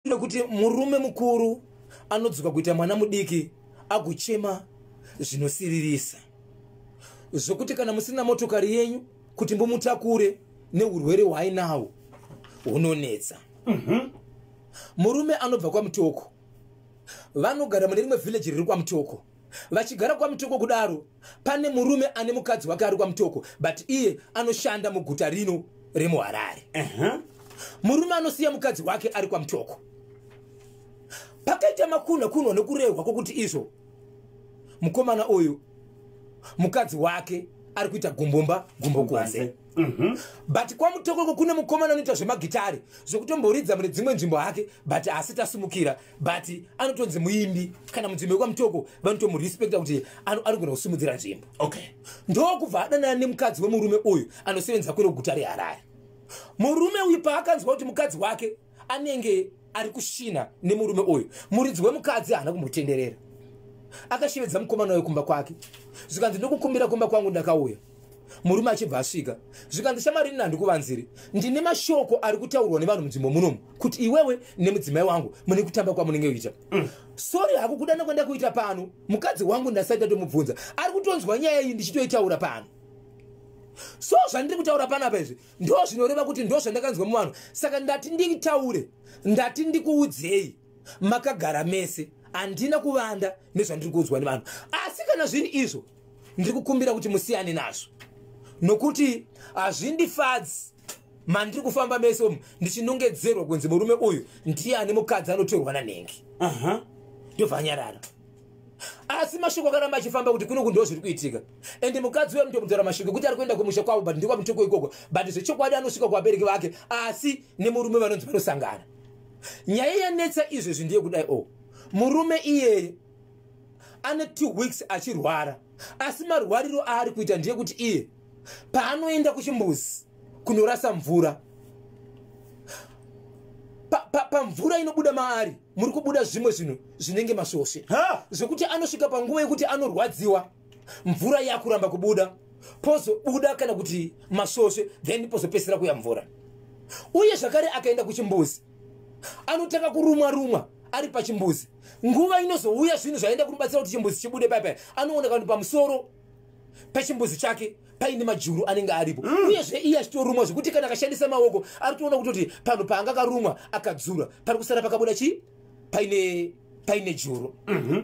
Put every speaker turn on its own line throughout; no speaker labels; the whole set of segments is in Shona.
nekuti murume mukuru anodzoka kuita mwana mudiki agochema zvinosiririsa zvokuti kana musina motokari yenyu kuti mbomutakure neurwere hwainawo hunonetsa mhm. murume anobva kwamutoko vanogara mune rimwe vhileji riri kwamutoko vachigara kwamutoko kudaro pane murume ane mukadzi wake ari kwamutoko but iye anoshanda muguta rino remuharare uh -huh. murume anosiya mukadzi wake ari kwamutoko pakaita makunha kunwa nekurehwa kwokuti izvo mukomana uyu mukadzi wake ari kuita gumbumba gumbo kunze mhm. but kwamutokoko kune mukomana anoita zvemagitare zvokutomboridza mune dzimwe nzvimbo hake but haasi tasimukira but anotonzi muimbi kana munzvimbo yekwamutoko vanotomurespecta kuti anogona kusimudzira nzvimbo okay ndokubva adanana nemukadzi wemurume uyu anosevenza kwero guta reharare murume uyu paakanzwa kuti mukadzi wake anenge ari kushina nemurume uyu muridzi wemukadzi haana kumbotenderera akashevedza mukomana uyo kumba kwake zvikanzi ndokukumbira kumba kwangu ndakauya murume achibva asvika zvikanzi shamarini nandikuvanziri ndine mashoko ari kutaurwa nevanhu munzvimbo munomu kuti iwewe nemudzimai wangu mune kutamba kwamunenge kuita mm. sori hako kudana kwanda kuita pano mukadzi wangu ndasati ndatomubvunza ari kutonzwa nyaya iyi ndichitoitaura pano so zvandiri kutaura panapa izvi ndo zvinoreva kuti ndo zvandakanzwa muvanhu saka ndati nditaure ndati ndikuudzei makagara mese handina kuvanda nezvandiri kuudzwa nevanhu asi kana zvinhu izvo ndiri kukumbira kuti musiyane nazvo nokuti hazvindifadzi mandiri kufamba mese umu ndichinongedzerwa kunzi murume uyu ndiye ane mukadzi anotorwa nanhengi ndobva anyarara asi mashoko akaramba achifamba kuti kuno kundiwo zviri kuitika ende mukadzi uyo anotomutaura mashoko ekuti ari kuenda kumusha kwavo but ndikwa mutoko ikoko but zvechokwadi anosvika kuvabereki vake asi nemurume vanonzi vanosangana nyaya yanetsa izvezvi ndiye kudai o oh, murume iyeye ane two weeks achirwara asi marwariro aari kuita ndiye kuti iye paanoenda kuchimbuzi kunorasa mvura pamvura pa, pa inobuda maari muri kubuda zvimwe zvinhu zvinenge masvosve zvekuti anosvika panguva yekuti anorwadziwa mvura yakuramba kubuda pozobuda kana kuti masvosve then pozopesera kuya mvura uye zvakare akaenda kuchimbuzi anotanga kurumwa rumwa ari pachimbuzi nguva inozouya zvinhu zvaenda kumubatsira kuti chimbuzi chibude paipai anoona kanhu pamusoro pechimbuzi chake paine majuru anenge aripo mm. uyezve iye achitorumwa zvekuti kana akashandisa maoko ari toona kutoti panhu paanga karumwa akadzura pari kusara pakabuda chii paine paine juru mhm.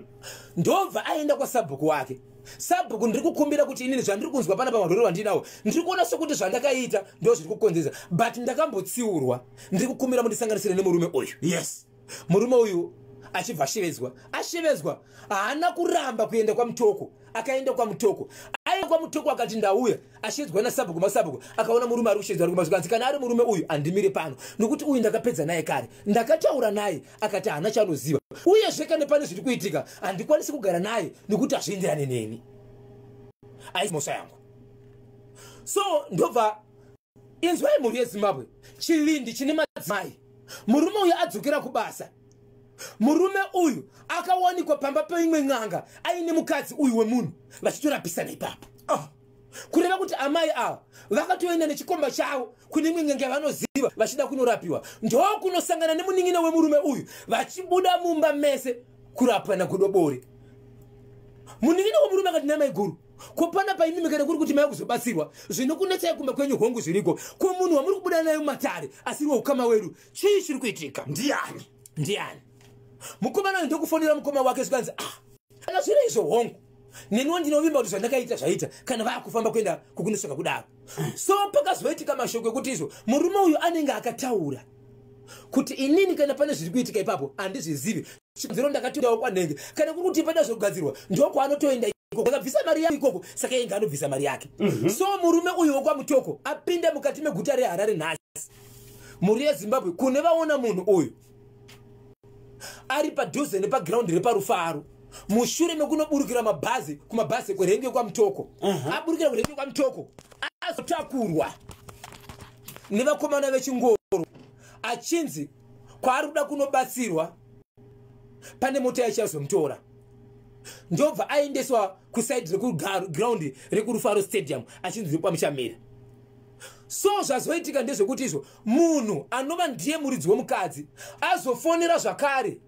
ndobva aenda kwasabhuku wake sabhuku ndiri kukumbira kuti inini zvandiri kunzwa pana pamarwere vandinawo ndiri kuona sokuti zvandakaita ndo zviri kukonzesa but ndakambotsiurwa ndiri kukumbira mundisanganisire nemurume uyu yes murume uyu achibva ashevedzwa ashevedzwa haana kuramba kuenda kwamutoko akaenda kwamutoko aenda kwamutoko akati ndauya ashedzwa nasabhuku masabhuku akaona murume ari kushedzwa ari kumazikanzi kana ari murume uyu andimire pano nokuti uyu ndakapedza naye kare ndakataura naye akati haana chaanoziva uyezve kana pane zviri kuitika handikwanisi kugara naye nekuti hazvienderane neni aisi mhosva yangu so ndobva inzwai mhuri yezimbabwe chivindi chine madzimai murume uyu adzokera kubasa murume uyu akawanikwa pamba peimwe n'anga aine mukadzi uyu wemunhu vachitorapisa neipapo oh. kureva kuti amai ava vakatoenda nechikomba chavo kune imwe n'anga yavanoziva vachida kunorapiwa ndokunosangana nemunin'ina wemurume uyu vachibuda mumba mese kurapwa nagodobori munin'ina wemurume akati namai guru ko pana paimimi kana kuri kuti mai kuzobatsirwa zvinokunetsai kumba kwenyu hongu zviriko ko munhu wamuri kubuda nayo matare asiriwo ukama wedu chii chiri kuitika ndiani ndiani mukomana uyu ndokufonera mukoma wake zvikanzi ah kana zviri izvo hongu neniwo ndinovimba kuti zvandakaita zvaita kana vakufamba kuenda kukunosvika kudaro so pakazoitika mashoko ekuti izvo murume uyu anenge akataura kuti inini kana pane zviri kuitika ipapo handizvizivi chikonzero ndakatoendawo kwanenge kana kuri kuti pada zvogadzirwa ndokwaanotoenda akabvisa mari yake ikoko saka inge anobvisa mari yake mhm. so murume uyu wokwamutoko apinda mukati meguta reharare nhasi mhuri yezimbabwe kune vaona munhu uyu ari padhuze nepagiraundi reparufaro mushure mekunoburukira mabhazi kumabhazi kwerenge kwamutoko mhm. aburukira kwerenge kwamutoko azotakurwa nevakomana vechingoro achinzi kwaari kuda kunobatsirwa pane mota yaichazomutora ndobva aendeswa kusaidi rekugraundi rekurufaro stadium achinzi ndokwamuchamira so zvazoitika ndezvekuti izvo munhu anova ndiye muridzi wemukadzi azofonera zvakare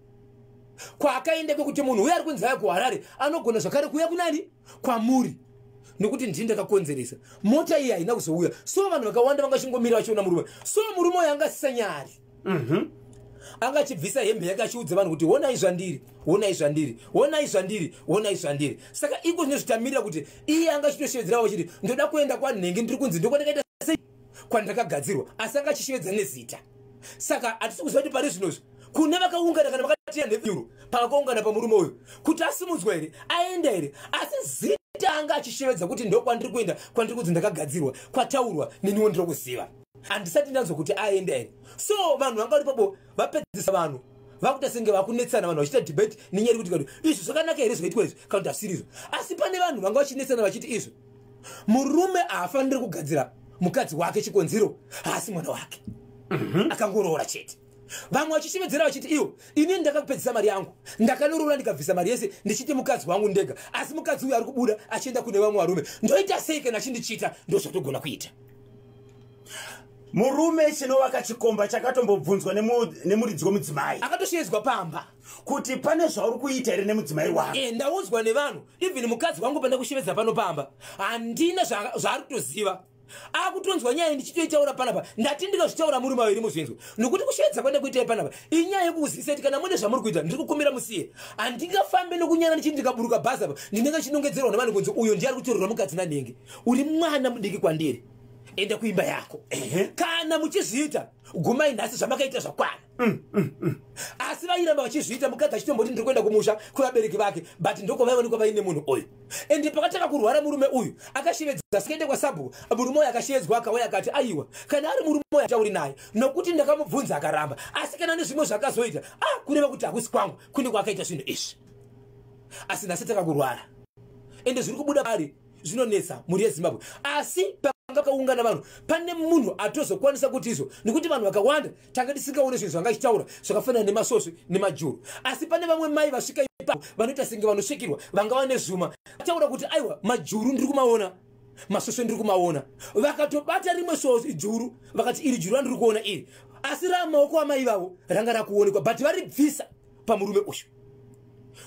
kwaakaenda kwekuti munhu uye ari kunzi aya kuharare anogona zvakare kuuya kunani kwamuri nekuti ndini ndakakonzeresa mota iyi haina kuzouya so vanhu vakawanda vanga chingomira vachiona murume so murume uyo anga asisanyari mhm. anga achibvisa hembe yake achiudza vanhu kuti honai zvandiri honai zvandiri honai zvandiri honai zvandiri saka iko zvinezvitamirira kuti iye anga achitoshevedzerawo chiti ndoda kuenda kwanhenge ndiri kunzi ndokwandakaita sei kwandakagadzirwa asi anga achishevedza nezita saka hatisi kuziva kuti pari zvinozvi kune vakaungana kana vakatiya nenyuro pavakaungana pamurume uyu kuti asimudzwa here aenda here asi zita anga achishevedza kuti ndokwandiri kuenda kwandiri kunzi ndakagadzirwa kwataurwa neniwo ndiri kuziva handisati ndanzwa kuti aenda here so vanhu vanga vari papo vapedzisa vanhu vakuita senge vakunetsana vanhu vachiita debate nenyaya yekuti kati izvi zvakanaka here zvaitwa izvi kana kuti asirizvo asi pane vanhu vanga vachinetsana vachiti izvi murume haafaniri kugadzira mukadzi wake chikonzero haasi mwana wake mhm. akangoroora chete vamwe vachishevedzera vachiti iwo ini ndakakupedzisa mari yangu ndakanoroora ndikabvisa mari yese ndichiti mukadzi wangu ndega asi mukadzi uyo ari kubuda achienda kune vamwe varume ndoita sei kana achindichita ndozvatogona kuita
murume chinovaka chikomba chakatombobvunzwa nemuridzi wemudzimai akatoshevedzwa pamba
kuti pane
zvauri kuita here nemudzimai wako e, ndaudzwa nevanhu
even mukadzi wangu panda kushevedza pano pamba handina zvaari kutoziva akutonzwa nyaya ndichitoitaura panapa ndati ndinozvitaura muri maviri muzvinzwa nokuti kushevedza kwanda kuitai panapa inyaya yekukuzivisa kuti kana mune zvamuri kuita ndiri kukumbira musiye handingafambe nokunyana ndichiti ndikaburuka bhazi apa ndinenge chinongedzerwa nevanhu kunzi uyo ndiari kutorerwa mukadzi nanhenge uri mwana mudiki kwandiri enda kuimba yako kana muchizviita gumai nhasi zvamakaita zvakwana Mm, mm, mm. asi vairamba vachizviita mukadzi achitomboti ndiri kuenda kumusha kwevabereki vake but ndokwavaivanikwa vaine munhu uyu ende pakatanga kurwara murume uyu akashevedza sikaende kwasabhuku murume uyu akashevedzwa akauya akati aiwa kana ari murume uyu atauri naye nokuti ndakamubvunza akaramba asi kana nezvimwe zvaakazoita a ah, kureva kuti hakusi kwangu kune kwaakaita zvinhu izvi asi nhasi takakurwara ende zviri kubuda pari zvinonetsa mhuri yezimbabwe asi panga pakaungana vanhu pane munhu atozokwanisa kuti izvo nekuti vanhu vakawanda tanga tisingaone zvinhu zvanga ichitaura zvakafanana nemasvosve nemajuru asi pane vamwe mai vasvika ipapo vanoita senge vanosvikirwa vangava nezvuma vataura kuti aiwa majuru ndiri kumaona masvosve ndiri kumaona vakatobata rimwe svosve juru vakati iri juru randiri kuona iri asi ramaoko amai vavo ranga rakuonekwa but varibvisa pamurume uyu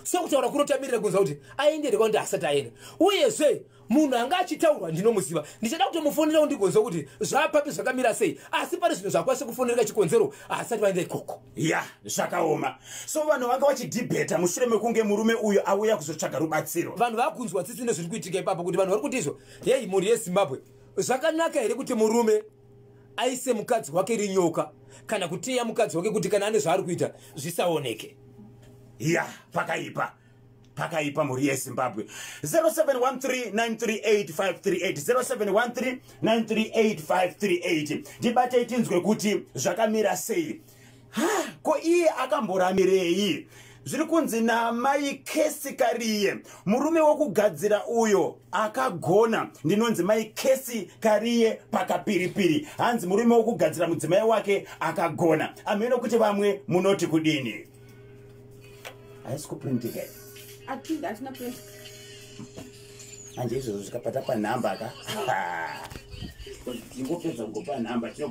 so kutaura kunotamirira kunza kuti aende here kwandi asati aenda uyezve munhu anga achitaurwa ndinomuziva ndichada kutomufonerawo ndigonza kuti zvapapi zvakamira sei asi pane zvinhu zvakwanisa kufonereka chikonzero haasati vaenda ikoko ya zvakaoma
so vanhu vanga vachidhibheta mushure mekunge murume uyu auya kuzotsvaga rubatsiro vanhu vakunzwa tsitsi
nezviri kuitika ipapo kuti vanhu vari kuti izvo heyi mhuri yezimbabwe zvakanaka here kuti murume aise mukadzi wake rinyoka kana kuteya mukadzi wake kuti kana ane zvaari kuita zvisaoneke ya
pakaipa pakaipa mhuri yezimbabwe 0713938538 ndibate tinzwe kuti zvakamira sei ha ko iye akamboramirei zviri kunzi namai kesi kariye murume wokugadzira uyo akagona ndinonzi mai kesi kariye pakapiripiri hanzi murume wokugadzira mudzimai wake akagona amheno kuti vamwe munoti kudini haisi kuprintika manje izvozvo zvikapata panhamba ka ingopedza kugopa nhamba